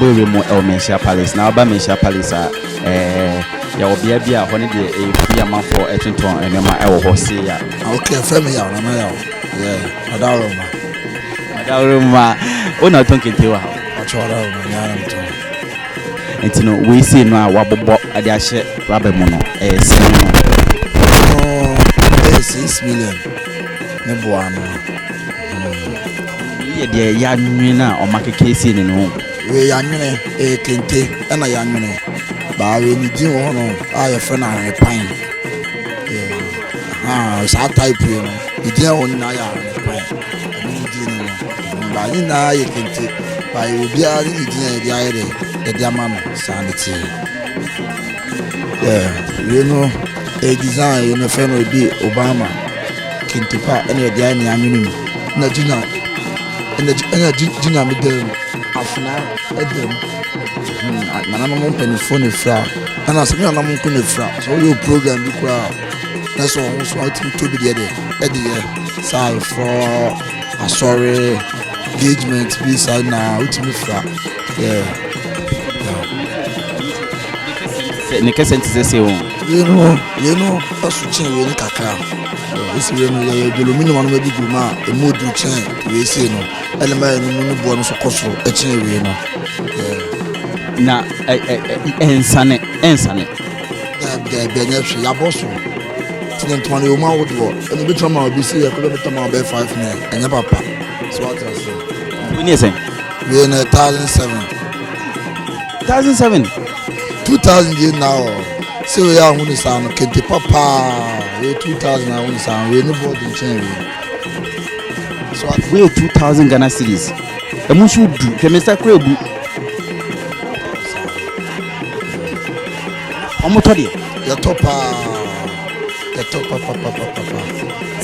Bowie mu ɛwɔ Mehyia Palace na aba Mehyia Palace a ɛɛ yɛwɔ bea bi a hɔ ne deɛ ɛyɛ firi amanfoɔ ɛtontɔn nneɛma ɛwɔ hɔ sei a. Ah, okay, fɛn mi yaw na ma yaw. Yeah, ɔdaworo ma. Ɔdaworo ma. Wo na ɔtɔn kente wɔ ha. Ɔtɔ ɔdaworo ma nyaa na mi tɔn. Nti no wei sei no a wabobɔ de ahyɛ rubber mu no ɛyɛ sɛn no? Ɛno ɛyɛ six million ne boa no. Wei yɛ deɛ yɛanwene a ɔma kekesei no no. Wei yɛanwene ɛyɛ kente ɛna yɛanwene baa wei ne din wɔ hɔ no a yɛfrɛ no ahwenepan. Saa type wei no ne din a ɛwɔ nyinaa yɛ ahwenepan. Ɛno ne din no no. Mbaa nyinaa yɛ kente, na yɛwɔ obiara ne ne dzin a yɛdze ayɛ dɛ yɛdze ama no saa ne tsee. Dɛ wei no yɛ design yi no fɛ no ebi Obama kente pa na yɛdze ayɛ ne anwene mu na gyina na gyina me dan mu afena ɛda mu hmm, nananom mpanimfoɔ na efira ɛna sɛ me nananom nko na efira sɛ ɔyɛ program bi koraa na sɛ ɔmo so ɔtumi tobi deɛ deɛ ɛde yɛ saa efrɔ. asɔre engagement bi saa nyinaa wotumi fra yeah. ne kɛsɛ nti sɛ sɛ o yɛnu yɛnu ɛso kyɛn wei no kakra ɛsi wei no yɛyɛ dwolomi no wɔnom agugu mu a ɛmu ɔdu kyɛn wei sei no ɛne ma yɛno mu no boɔ no so kɔ soro ɛkyɛn wei no na ɛnsane ɛnsane Daabi daabi ɛnyɛ hwee yabɔ so tini ntoma no yɛwɔ ahodoɔ ɛna ebi tuma ma obi si yɛ kɔbɛ bi tuma ma ɔbɛyɛ five nɛ ɛnyɛ papa so ɔte ase. wei ne sɛn. wei ne thousand seven. thousand seven. two thousand yɛ na ɔ sɛ wei yɛ ahono saa no kente papaa wei two thousand ahono saa no wei ne bɔɔdi nkyɛn wei. so ɔte. wei two thousand ghana series ɛmu nso du hwɛ mr kura ebu. Ɔmo tɔ deɛ. Yɛtɔ paa. Yɛtɔ papapapapa.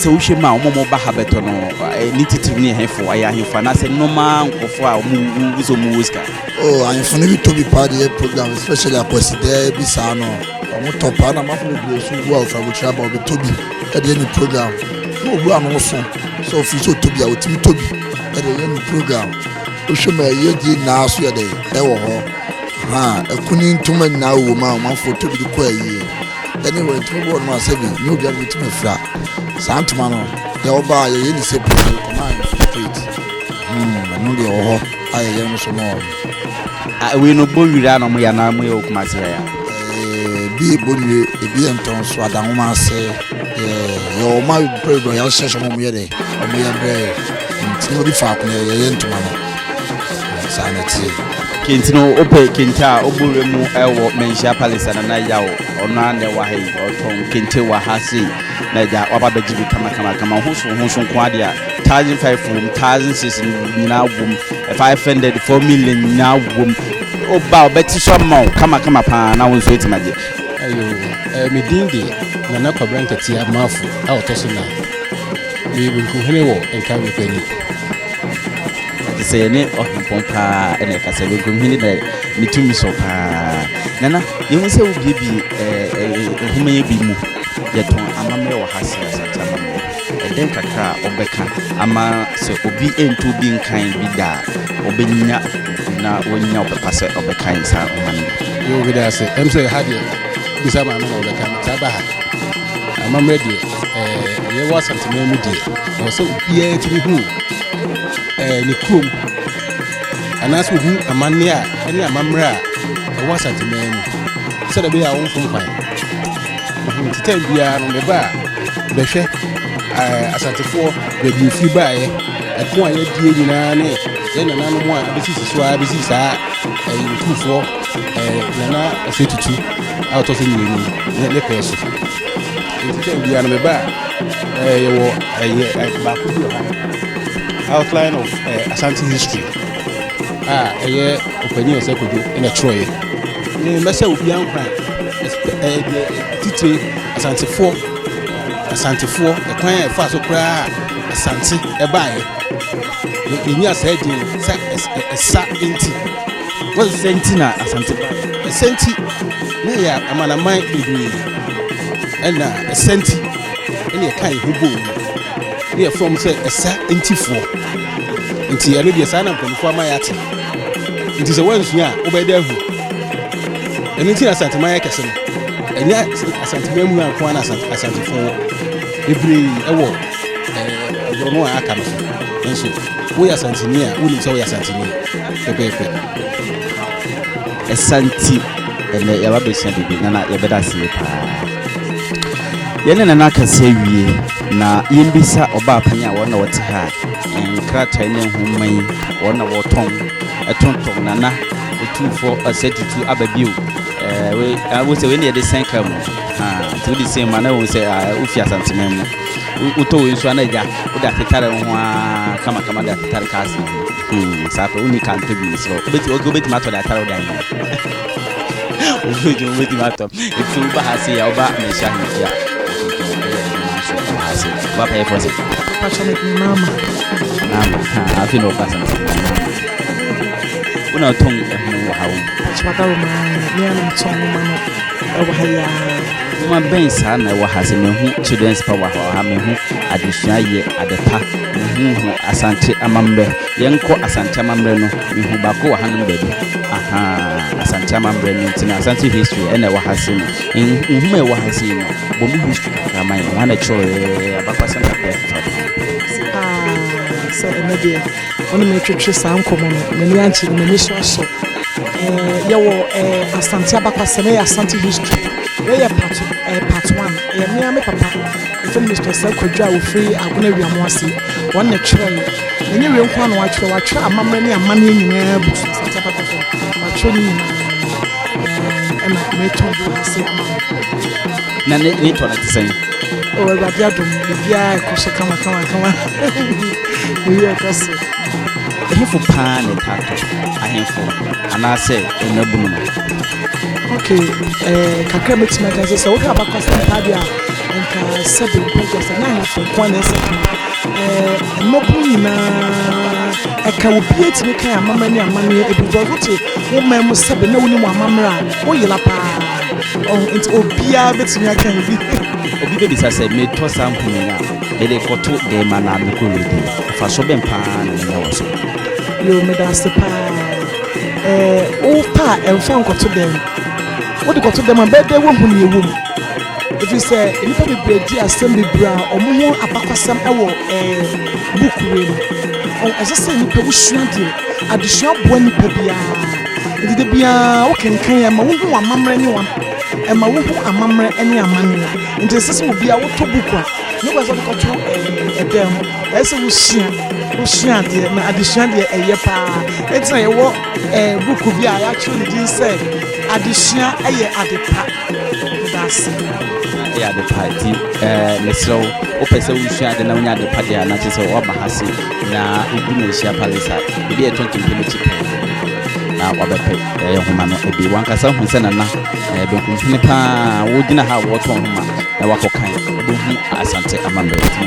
Sɛ wohwɛ mu a ɔmo ɔmo ba ha bɛtɔ no eh, ne titiriw ne ɛhefo ayɛ ahemfo anaasɛ nneɛma nkurɔfo a ɔmo wu wu sɛ ɔmo wɔ sika. Oh, ahemfo no bi tɔ bi paa de yɛ program especially akwasidɛɛ bi saa no. Ɔmo tɔ paa na amafo bebree so wu a ofura abotire aba ɔbɛtɔ bi ɛde yɛ ne program. Na obu ano so sɛ ofiri sɛ ɔtɔ bi a otumi tɔ bi ɛde yɛ ne program. Wohwɛ mu a ɛyɛ die nyinaa so yɛ dɛ ɛwɔ hɔ. Na ɛkuni ntoma nyinaa wɔ mu a wɔn afɔ tobi de kɔ ayie ɛne wɔn ntoma bi wɔ nom a sɛbi nyɛ obiara de tumi fira saa ntoma no deɛ ɔba a yɛyɛ ne sɛbi de kɔma ayɛ so straight hmm, ɛno deɛ wɔ hɔ a yɛyɛ no so ma wɔn. ɛwei no bɔ nwira na wɔyɛ anaa wɔyɛ wɔ kuma serɛ ya. ebi yɛ bɔ nwire ebi yɛ ntɔn so adanwoma ase yɛ wɔn a pɛrɛ dɔ yɛ ahyɛ so wɔn yɛ dɛ wɔn yɛ brɛ ntoma bi faako yɛ yɛ ntoma no. saa na ɛteɛ kente no wopɛ kente a wobɔ wura mu ɛwɔ manhyia palace ana na yaw ɔno a na ɛwɔ ha yi ɔtɔn kente wɔ ha sei na agya waba bɛgye bi kamakamakama ho so ho so nko adeɛ a thousand five wom thousand six nyinaa wom five hundred four million nyinaa wom woba wobɛte so ama wo kamakama paa na wo nso atumi agye ayo medin de nana kwabra nkatia maafo a ɔtɔ so na meyɛ benkuhene wɔ nkawe kwani Te sɛ yɛne ɔhempɔn paa na ɛkasa, Baguam hene na ne tumi sɔ paa. Nana, yɛhu sɛ wobiebie nhoma yɛ bi mu. Yɛtɔn amammerɛ wɔ ha sɛ Asante amammerɛ. Ɛdɛn kakra a wobɛka ama sɛ obi nto obi nkan bi da a, ɔbɛnya bi na wanya ɔpɛ pa sɛ ɔbɛkan saa nhoma no bi? Meda ase. Ɛm sɛ ha deɛ, wobisa maame na ɔbɛka, metaa ba ha. Amammerɛ deɛ, ɛɛ, yɛwɔ Asanteman mu deɛ, ɛwɔ sɛ obiara tumi hu ɛɛ ne kurom anaasɛ ohu amanneɛ a ɛne amammerɛ a ɛwɔ Asanteman mu sɛdeɛ ɛbɛyɛ a wɔmfom kwan. Mhm, Te tɛm biara no, meba a bɛhwɛ ɛɛ Asantefoɔ baabi a ɛfiri baeɛ, ɛko a yɛadie nyinaa ne yɛn nananom a abɛsisi so ara bɛsi saa ɛɛ Nkurufoɔ Ɛɛ, Nana Ɔsɛ Tutu a ɔtɔ so mmienu ne ne pɛɛ so. Nti tɛm biara no meba a, ɛɛ, yɛwɔ ɛyɛ ɛ, baako bi wɔ ha, Outline of ɛɛ, eh, Asante History a ɛyɛ ɔpanyin Ɔsɛ Kojo na ɛtwerɛeɛ. Ne mɛsɛ obiara nkwa ɛɛ, deɛ titire Asantefoɔ, Asantefoɔ, ɛkwan a ɛfa so koraa a Asante ɛbaeɛ. Yɛnya saa din no, sa ɛsa nti. Sɛ nti na Asante baeɛ. Sɛ nti na ɛyɛ amanaman bebree na ɛsɛ nti na yɛka yɛn ho bɔ mu na yɛfrɛ wɔn sɛ ɛsa ntifoɔ. Nti ɛno deɛ saa na mpanimfoɔ ama yɛate. Nti sɛ woansua a wobɛyɛ dɛ ahu. Ɛno nti na Asanteman yɛ kɛse no. Ɛnyɛ Asanteman mu nko ara na Asantefoɔ wɔ. Bebree wɔ eh, borɔno a aka no so. Nanso Woyɛ Asanteni a, wonim sɛ woyɛ Asanteni pɛpɛɛpɛ. Ɛsa nti, ɛnɛ yɛaba bɛsua biribi na na yɛbɛda aseɛ paa. Yɛne nana akasa awie na yɛmbisa ɔbaa panyin a wɔn na wɔte ha a nkrataa ne nhoma yi wɔn na wɔtɔn ɛtontɔn nana otumfoɔ ɛsɛ tutu aba bio ɛɛ wo sɛ wei ne yɛde sɛn kaa mu nti wode sɛn mu a na wɔn sɛ wofi asanteman mu wotɔ wei nso ana agya wode atetare wo ho a kamakama de atetare ka asena ho hmm, saa pɛ wonni ka ntɔ bi mesrɛ wobɛtumi atɔ de atare wode ayɛ wobɛtumi wobɛtumi atɔ ɛfisɛ woba ha se yɛ woba mehyia no mehyia wapɛyɛ fɔ sɛ mama afei na wɔkasa no sɛ mama wona wotɔn ɛhono wɔ ha wo Nwoma bɛn saa na ɛwɔ ha? Sɛ mehu Children's Power wɔ ha, mehu Adesua Yɛ Ade Pa, mehu hu Asante Amammerɛ. Yɛnkɔ Asante Amammerɛ no, mehu baako wɔ hanom baabi. Ahaa, Asante Amammerɛ no nti no, Asante History ɛna ɛwɔ ha sei no. Nhoma a ɛwɔ ha sei no, bɔ mu history kakra ma yɛn. Hwan na ɛkyerɛwee? Abakwasɛm kakra a ɛtwitwa pɛn sei. Aa, sɛ ɛnnɛ deɛ wo ne me retwetwe saa nkɔmmɔ no, m'ani ankye na m'ani nso asɔ. Ɛɛ, yɛwɔ ɛɛ Asante Abakwasɛm, ɛyɛ Asante History. Wei yɛ part ɛɛ part one. Ɛyɛ me ara me papa, yɛfrɛ no Mister Osei Kwadwo a ɔfiri Agona Wiamoase. Wɔn na ɛtwerɛeɛ. Ɛnyɛ wei nko ara na wɔatwerɛ, wɔatwerɛ amammerɛ ne amanneɛ nyinaa agu so, Asante Aba FM. Wɔatwerɛ ne nyinaa. Ɛna meretɔn de wɔ ase ama wo. Na ne ne tɔ no te sɛn? O Awurade adom, biribiara rekɔ so kamakamakama. Biribi rekɔ so. Ɛhefo paa na ɛtaa tɔ, ahemfo anaasɛ mmabunu no? Ok eh, kakra mɛtumi aka sɛ sɛ wohwɛ abakɔsɛm paa deɛ a nka sɛbe mpagya sɛ na ahemfo nko a na ɛsɛ ka eh, mmabunu nyinaa ɛka wo bia tumi kan amama ne amanneɛ ebi because wote wo man mu sɛbe na wonim amammerɛ a woyera paa oh, nti obiara bɛtumi aka bi obi bɛbisa sɛ metɔ saa mponin a mede kɔto dɛn ma na mekɔ redi mfasoɔ bɛn paa na menya wɔ so yo meda ase paa Ɛɛ, wopɛ a ɛmfa nkɔto dɛm. Wode kɔto dɛm a, bɛyɛ dɛ woahu nea ɛwɔ mu. Ɛfiri sɛ nnipa bebree di asɛm bebree a wɔn ho abakɔsɛm wɔ ɛɛ book wei mu. Ɔho, ɛsɛ sɛ nnipa wosua adeɛ. Adesua boa nnipa biara. Nti da biara wokenkan a, ɛma wohu amammerɛ ne wɔn, ɛma wohu amammerɛ ne amanneɛ. Nti ɛsɛ sɛ obiara wotɔ book a, nyɛ boa sɛ wode kɔto ɛɛ ɛdan mu. Ɛyɛ sɛ wosua wosua adeɛ na adesua deɛ ɛyɛ paa ɛti na yɛwɔ ɛɛ buku bi a yɛatwerɛ ne din sɛ adesua ɛyɛ ade pa meda ase ɛyɛ ade pa ti ɛɛ mesrɛ wo wopɛ sɛ wosua ade na wonya ade pa deɛ a na kyerɛ sɛ woaba ha se na wogu na ahyia palace a ebi a ɛtɔntɔn pɛ n'akyi pɛɛ na wabɛpɛ ɛyɛ homa no ebi wankasa hu sɛ nana ɛɛ benkumfini paa wogyina ha a wɔtɔn homa na wakɔkan wobɛhu asante amammerɛ